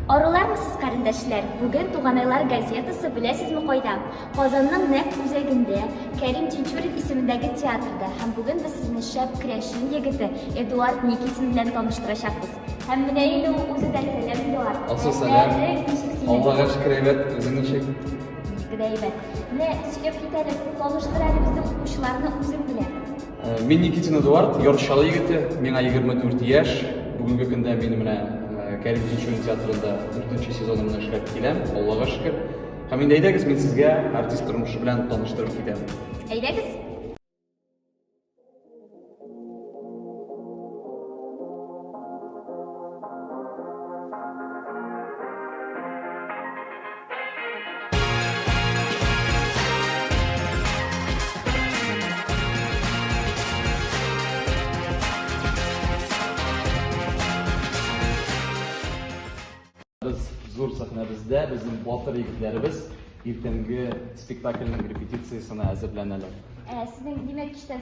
Арулармы сез, карендәшләр? Бүген Туганайлар газетасы беләсезме кайда? Казанның нәкъ үзәгендә, Кәрим Тинчурин исемендәге театрда. Һәм бүген без сезне шәп крәшин егете Эдуард Никитин белән таныштырачакбыз. Һәм менә инде ул үзе дә сәлам Эдуард. Алсу сәлам. Аллага шөкер әйбәт, үзең ничек? Бик тә әйбәт. Менә сөйләп кит әле, таныштыр әле безнең укучыларны үзең белән. Э, мин Никитин Эдуард, Йорчалы егете, миңа 24 яшь. Бүгенге көндә мин менә э, Кәрим Тинчурин театрында 4 сезонымны эшләп киләм, Аллага шөкер. Һәм инде әйдәгез, мин сезгә артист тормышы белән таныштырып китәм. Әйдәгез. зур сәхнәбездә безнең батыр егетләребез иртәнге спектакльнең репетициясенә әзерләнәләр. Ә сезнең димәк кичтән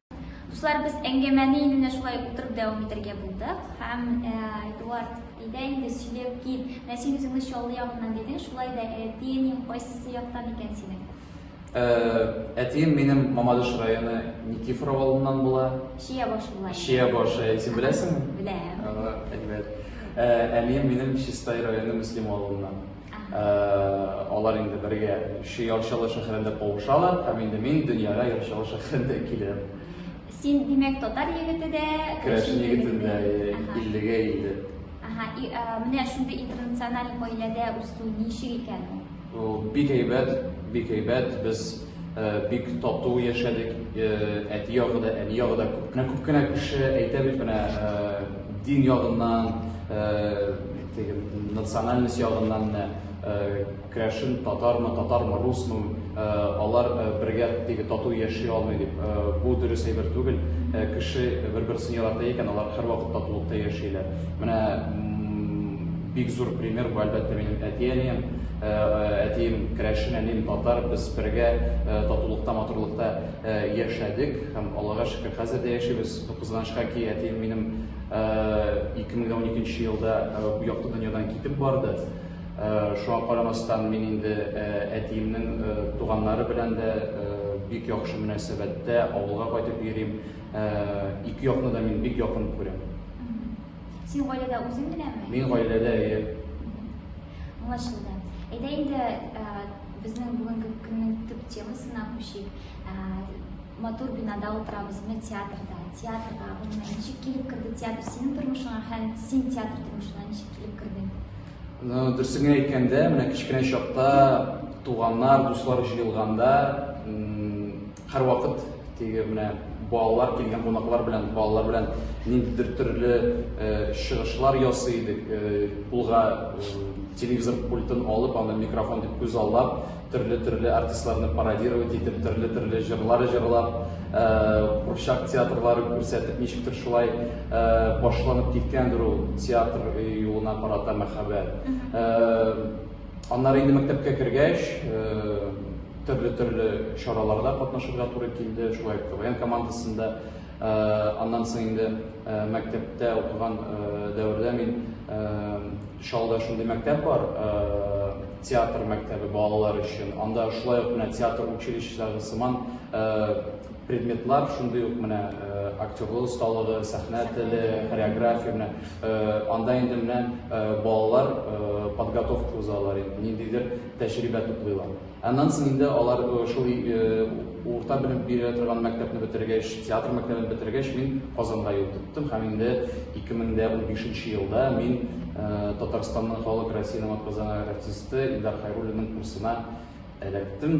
Дуслар, без әңгәмәне инде менә шулай утырып дәвам итәргә булдык. Һәм э, Эдуард, әйдә инде сөйләп кит. Менә син үзеңне Чаллы ягыннан дидең, шулай да әтиең кайсы яктан икән синең? Э, әтием минем Мамадыш районы Никифор авылыннан була. Чия башы була. Чия башы, син беләсеңме? Беләм. Әйбәт. Э, әнием минем Чистай районы Мөслим авылыннан. алар инде бергә ши ярчалы шәһәрендә кавышалар һәм инде мин дөньяга ярчалы шәһәрендә киләм син димәк татар егете дә керәшен егете дә иллегә илде ага и менә шундый интернациональ гаиләдә үсү ничек икән ул бик әйбәт бик әйбәт без бик тату яшәдек. Әти ягы да, әни ягы да күп кенә күп кенә кеше әйтә бит менә дин ягыннан, теге национальность ягыннан менә керәшен татармы, татармы, русмы, алар бергә теге тату яши алмый дип. Бу дөрес әйбер түгел. Кеше бер-берсен ярата икән, алар һәрвакыт татулыкта яшиләр. Менә Бик зур пример бу әлбәттә минем әти-әнием. Әтием керәшен, әнием татар. Без бергә татулыкта, матурлыкта яшәдек һәм Аллага шөкер, хәзер дә яшибез. Кызганычка ки, әтием минем 2012 елда бу якты дөньядан китеп барды. Шуңа карамастан мин инде әтиемнең туганнары белән дә бик яхшы мөнәсәбәттә, авылга кайтып йөрим. Ике якны да мин бик якын күрәм. Син гаиләдә үзең генәме? Мин гаиләдә, әйе. Аңлашылды. Әйдә инде ә, безнең бүгенге көннең төп темасына күчик. Ә, матур бинада утырабыз, менә театрда, театрга. Гомумән, ничек килеп керде театр синең тормышыңа һәм син театр тормышына ничек килеп кердең? Ну, дөресен генә әйткәндә, менә кечкенә чакта туганнар, дуслар җыелганда, м, Һәрвакыт теге менә балалар килгән кунаклар белән, балалар белән ниндидер төрле чыгышлар ясый идек. Кулга телевизор пультын алып, аны микрофон дип күз аллап, төрле-төрле артистларны пародировать итеп, төрле-төрле җырлар җырлап, курчак театрлары күрсәтеп, ничектер шулай башланып киткәндер ул театр юлына карата мәхәббәт. Аннары инде мәктәпкә кергәч, төрле-төрле чараларда катнашырга туры килде, шулай ук КВН командасында. Аннан соң инде мәктәптә укыган дәвердә мин Чалда шундый мәктәп бар, театр мәктәбе балалар өчен. Анда шулай ук менә театр училищесындагы сыман Предметлар шундый ук менә актерлы осталыгы, сәхнә теле, хореография менә анда инде менә балалар подготовка узалар инде, ниндидер тәҗрибә туплыйлар. Аннан соң инде алар шул урта белем бирә торган мәктәпне бетергәч, театр мәктәбен бетергәч, мин Казанга юл тоттым һәм инде 2015 елда мин Татарстанның халык Россиянең атказанган артисты Илдар Хайруллинның курсына эләктем.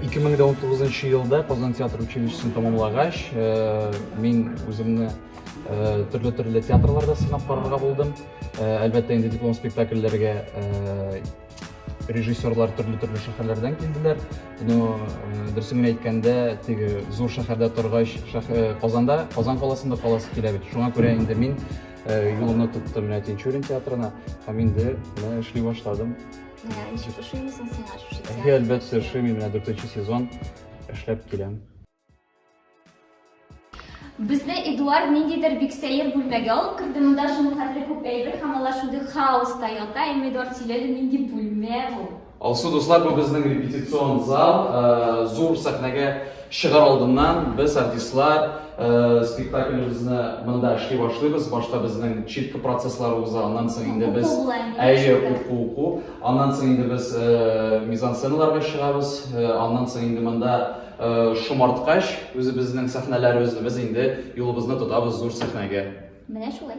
2019 нчы елда Казан театр училищесын тәмамлагач, э, мин үземне э, төрле төрле театрларда сынап карарга булдым. Э, әлбәттә, инде диплом спектакльләргә режиссерлар төрле төрле шәһәрләрдән килделәр. Но дөресен генә әйткәндә, теге зур шәһәрдә торгач, Казанда, Казан каласында каласы килә бит. Шуңа күрә инде мин юлымны тоттым менә Тинчурин театрына һәм инде эшли башладым. Менә ничек ошыймысың сиңа шушы театр? Әйе, әлбәттә, ошый мин менә дүртенче сезон эшләп киләм. Безне Эдуард ниндидер бик сәер бүлмәгә алып керде. Монда шуны хәтле күп әйбер һәм алар шундый хаоста ята. Әмма Эдуард сөйләде, нинди бүлмә бу? Алсу, дуслар, бу безнең репетицион зал, э, зур сәхнәгә Чыгар алдыннан без, артистлар, спектаклебезне монда эшли башлыйбыз. Башта безнең читка процесслары уза, аннан соң инде без әйе, уку, уку. Аннан соң инде без мизансценаларга чыгабыз. Аннан соң инде монда шомарткач, үзебезнең сәхнәләребезне без инде юлыбызны тотабыз зур сәхнәгә. Менә шулай.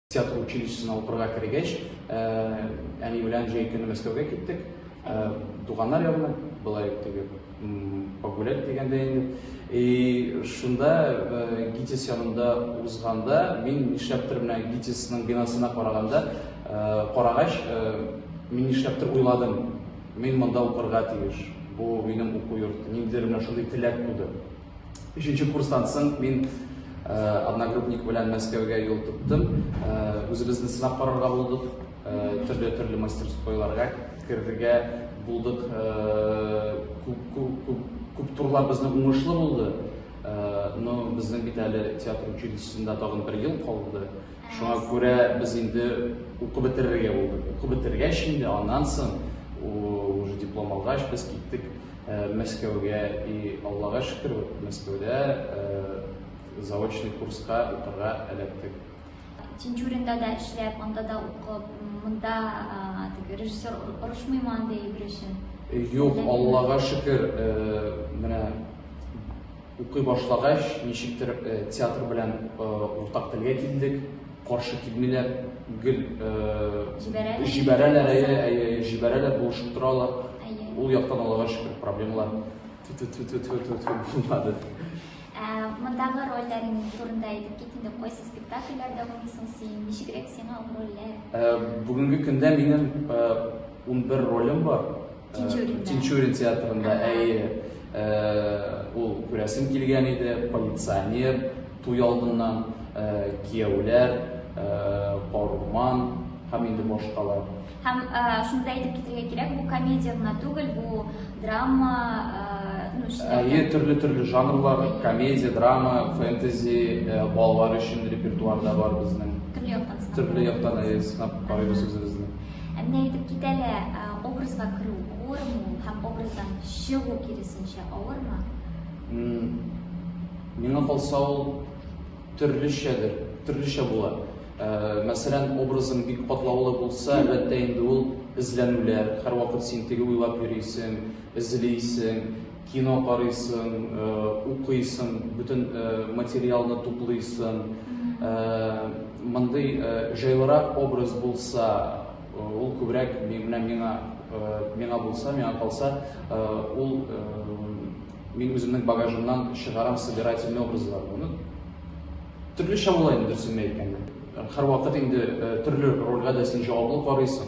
Театр училищесына укырга кергәч, әни белән җәй көне Мәскәүгә киттек. Туганнар ягына, былай теге погулять дигәндә инде. И шунда ГИТИС янында узганда, мин нишләптер менә ГИТИСның бинасына караганда, карагач, мин нишләптер уйладым. Мин монда укырга тиеш. Бу минем уку йорты. Ниндидер менә шундый теләк туды. Өченче курстан соң мин одногруппник белән Мәскәүгә юл тоттым. Үзебезне сынап карарга булдык. Төрле-төрле мастерскойларга керергә булдык. Күп турлар безнең уңышлы булды. Но безнең бит әле театр училищесында тагын бер ел калды. Шуңа күрә без инде укып бетерергә булдык. Укып бетергәч инде, аннан соң, уже диплом алгач, без киттек э, Мәскәүгә. И Аллага шөкер, Мәскәүдә э, заочный курска укырга эләктек. Тинчуринда да эшләп, анда да укып, монда теге режиссер орышмыймы андый бер эшен? Юк, Аллага шөкер, э, менә Укый башлагач, ничектер театр белән уртак телгә килдек, каршы килмиләр, гел җибәрәләр, әйе, әйе, җибәрәләр, булышып торалар. Ул яктан аларга шөкер, проблемалар булмады. Мондагы рольләрең турында әйтеп кит инде, кайсы спектакльләрдә уйныйсың син, ничегрәк сиңа ул рольләр? Бүгенге көндә минем 11 ролем бар, Тинчурин. Тинчурин театрында әйе ул күрәсем килгән иде, полиционер, туй алдыннан кияүләр, Баруман һәм инде башкалар. Һәм шуны да әйтеп китергә кирәк, бу комедия гына түгел, бу драма, Әйе, төрле-төрле жанрлар, комедия, драма, фэнтези, балалар өчен репертуарда бар безнең. Төрле яктан. Төрле яктан, әйе, сынап карыйбыз үзебезне. Ә менә әйтеп кит әле, ә, образга керү авырмы ул һәм образдан чыгу киресенчә авырмы? М, Миңа калса ул төрлечәдер, төрлечә була. Ә, Мәсәлән, образың бик катлаулы булса, әлбәттә инде ул эзләнүләр, һәрвакыт син теге уйлап йөрисең, эзлисең, Кино карыйсың, укыйсың, бөтен материалны туплыйсың. Мондый җайлырак образ булса, ул күбрәк менә миңа миңа булса, миңа калса, ул мин үземнең багажымнан чыгарам собирательный образларны. Ну, төрлечә була инде, дөресен әйткәндә. Һәрвакыт инде төрле рольгә дә син җаваплы карыйсың.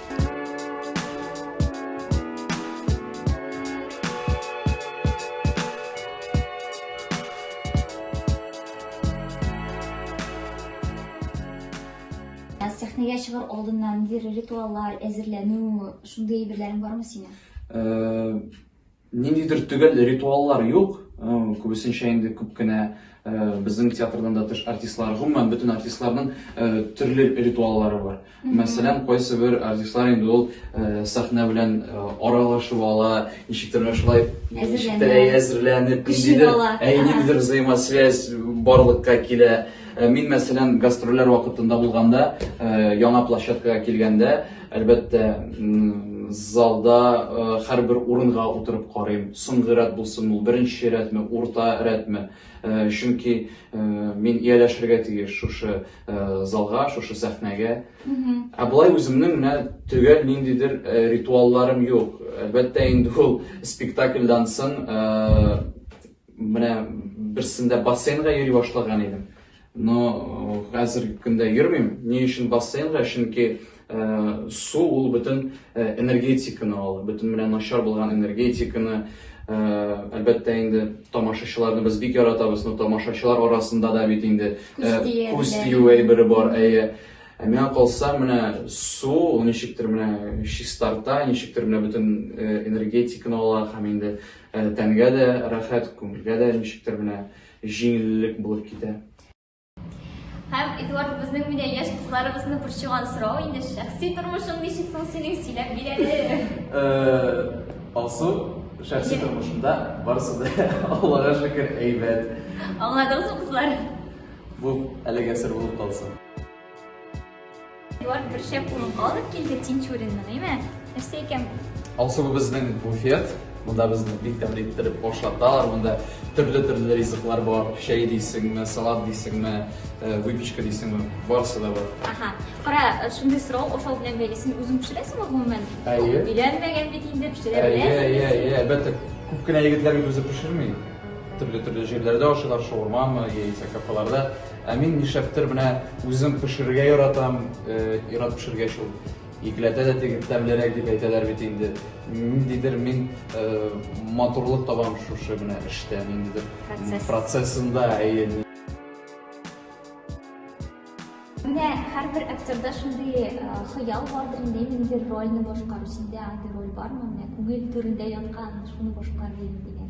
сәхнәгә чыгар алдыннан ниндидер ритуаллар әзерләнү шундый әйберләрең бармы синең Ниндидер төгәл ритуаллар юк, күбесенчә инде күп кенә безнең театрдан да тыш артистлар, гомумән бөтен артистларның төрле ритуаллары бар. Мәсәлән, кайсы бер артистлар инде ул сәхнә белән аралашып ала, ничектер шулай әзерләнеп, ниндидер взаимосвязь барлыкка килә. Мин, мәсәлән, гастрольләр вакытында булганда, яңа площадкага килгәндә, Әлбәттә, залда һәрбер урынга утырып карыйм. Соңгы рәт булсын ул, беренче рәтме, урта рәтме. Чөнки мин ияләшергә тиеш шушы залга, шушы сәхнәгә. Ә болай үземнең менә төгәл ниндидер ритуалларым юк. Әлбәттә, инде ул спектакльдан соң менә берсендә бассейнга йөри башлаган идем. Но хәзерге көндә йөрмим. Ни өчен бассейнга? Чөнки су ул бөтен энергетиканы ала. Бөтен менә начар булган энергетиканы, әлбәттә инде тамашачыларны без бик яратабыз, но тамашачылар арасында да бит инде күз тию әйбере бар. Әйе. Ә миңа калса, менә су ул ничектер менә чистарта, ничектер менә бөтен энергетиканы ала һәм инде тәнгә дә рәхәт, күңелгә дә ничектер менә Җиңеллек булып китә. Һәм, Эдуард, безнең менә яшь кызларыбызны борчыган сорау инде, шәхси тормышың ничек соң синең, сөйләп бир әле. Алсу, шәхси тормышымда барысы да, Аллага шөкер, әйбәт. Аңладыгызмы, кызлар? Бу әлегә сер булып калсын. Юар бер шәп урынга алып килде Тинчуринны, гыйме? Нәрсә икән бу? Алсу бу безнең буфет. Монда безне бик тәмле иттереп башлаталар. Монда төрле-төрле ризыклар бар. Чәй дисеңме, салат дисеңме, э, выпечка дисеңме, барысы да бар. Ага. Кара, э, шундый сорау ашау белән бәйле. Син үзең пешерәсеңме гомумән? Әйе. Өйләнмәгән бит инде, пешерә Әйе, әйе, беләсеңме? әйе, әлбәттә. Күп кенә егетләр бит үзе пешерми. Төрле-төрле җирләрдә ашыйлар, шаурмамы, яисә кафеларда. Ә мин нишләптер менә үзем пешерергә яратам, ир-ат пешергәч ул икеләтә дә тегеп тәмлерәк дип әйтәләр бит инде. Ниндидер мин матурлык табам шушы менә эштә, ниндидер процессында, әйе. Менә һәрбер актерда шундый хыял бардыр инде, ниндидер рольне башкару, синдә андый роль бармы, менә күңел түрендә яткан, шуны башкарыйм дигән?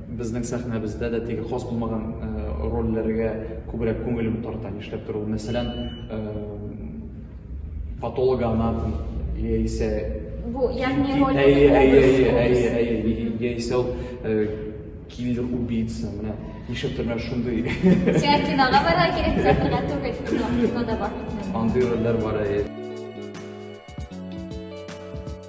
Безнең сәхнәбездә дә теге хас булмаган рольләргә күбрәк күңелем тарта, нишләп тора ул. Мәсәлән, патологоанатом яисә Бу ягъни роль Әйе, әйе, әйе, әйе, әйе, яисә ул киллер убийца, менә нишләп тора шундый. Сиңа кинога барырга кирәк, театрга түгел, кинода бар. Андый рольләр бар, әйе.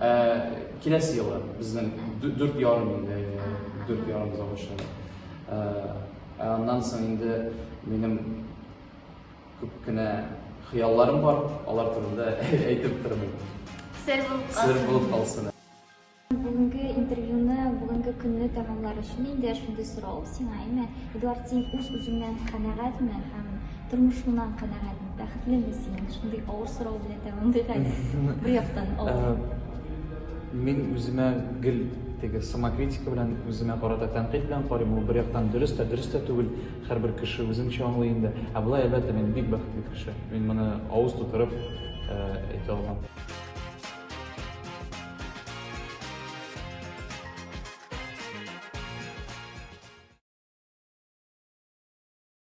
Ә, киләсе елы безнең дүрт ярым инде, дүрт ярым заводчан. Ә, ә аннан соң инде минем күп кенә хыялларым бар, алар турында әйтеп тормыйм. Сер булып калсын. Сер булып калсын. Бүгенге интервьюны, бүгенге көнне тәмамлар өчен инде шундый сорау сиңа, әйме, Эдуард, син үз-үзеңнән канәгатьме һәм Тормышыңнан канәгатьме, бәхетлеме син? Шундый авыр сорау белән тәмамлыйк әле. Бер яктан авыр. Мин үземә гел теге самокритика белән үземә карата тәнкыйть белән карыйм. Ул бер яктан дөрес тә, дөрес тә түгел. Һәрбер кеше үзенчә аңлый инде. Ә болай әлбәттә мин бик бәхетле кеше. Мин моны авыз тутырып әйтә алмам.